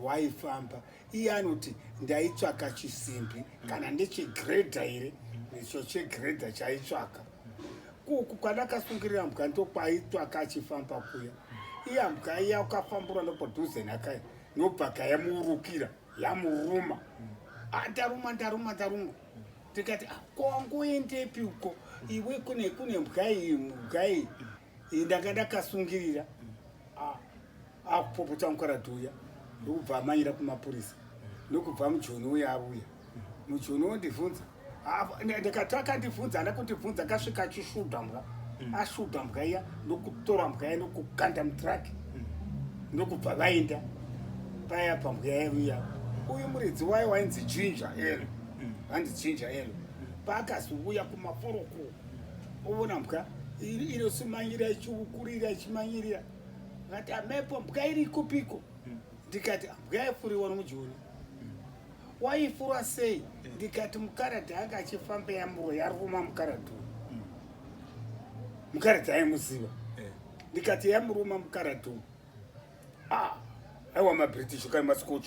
waifamba iye anoti ndaitsvaka chisimbi kana ndechegredha here icho chegredha chaitsvaka kuku kwadakasungirira mbwa ndokwaitsvaka achifamba kuya iye mbwa iya ukafambura ndopadhuze nakai nobvaka yamuurukira yamuruma ah, ndaruma ndaruma ndaruma tikati ah, kongoendepi uko iwe kune kune mbwa iyi mbwa iyi iyi ndanga ndakasungirira akupopota ah, ah, mukaradhi uya ndokubva amanyira kumapurisa ndokubva mujoni uya avuya mujoni wondibvunza ndikati akandibvunza hana kundibvunza akasvika achisvuda mbwa mm. asvuda mbwa iya ndokutora mbwa iya ndokukanda mutraki mm. ndokubva vaenda paya pambwa yaivuya uyu muridzi wayo wainzi jinja elo mm. hanzi jinja elo paakazivuya kumaporokoko Ovona mbwa inosimanyirira ichiukurira ichimanyirira akati amepo mbwa iri kupiko ndikati mbwa yaifuriwa nomujoni waifura sei ndikati mukaradhi anga achifamba yamuro yaruma mukaradhi mukaradhi aimuziva eh. ndikati yamuruma mukaradhi ah, aiwa mabritish ukari mascoch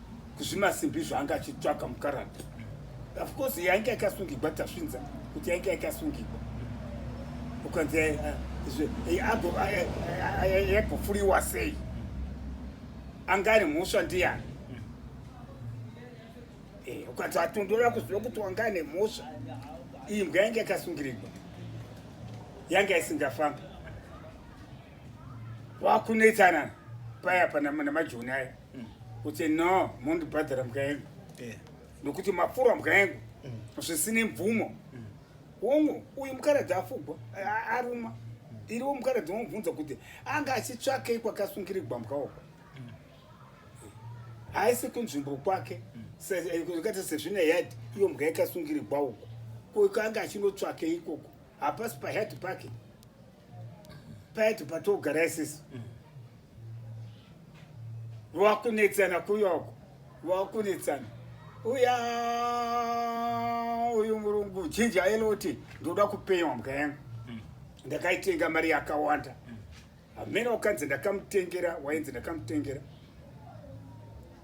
kuzvimasimbi zvaanga achitsvaga mukarata of course yainge yakasungigwa tasvinza kuti yainge yakasungigwa ukanzi yagofuriwa sei anga ari mhosva ndiyani eh, ukanzi atondora kuziva kuti wanga ane mhosva iyi mbwa yainge yakasungirigwa yanga isingafambi wakunetsanana paya panamajoni aya mm. kuti no mondibhadhara mbuya yengu yeah. nokuti mapfura mbuya yengu mm. zvisine mvumo mm. hongu uyu mukaradzi afugwa aruma mm. iriwo mukaradzi womubvunza kuti anga achitsvakei kwakasungirigwa mbuya uko mm. haisi kunzvimbo kwake mm. zvakaita eh, sezvine yard iyo mbuya ikasungirigwa uko koikanga achinotsvake ikoko hapasi payard pake payard patogara isisi mm. wakunetsana kuyoko wakunetsana uya uyu murungu chinji ailoti ndoda kupenya mbuka yangu hmm. ndakaitenga mari yakawanda hamene hmm. wakanzi ndakamutengera wainzi ndakamutengera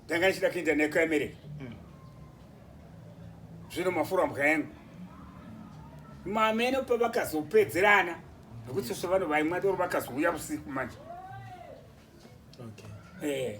ndanga ndichida kuenda naye kuamereka mm. zvino mafura mbwa yangu mameno pavakazopedzerana nekuti sese vanhu vaimwa toro vakazouya usiku manje okay. eh.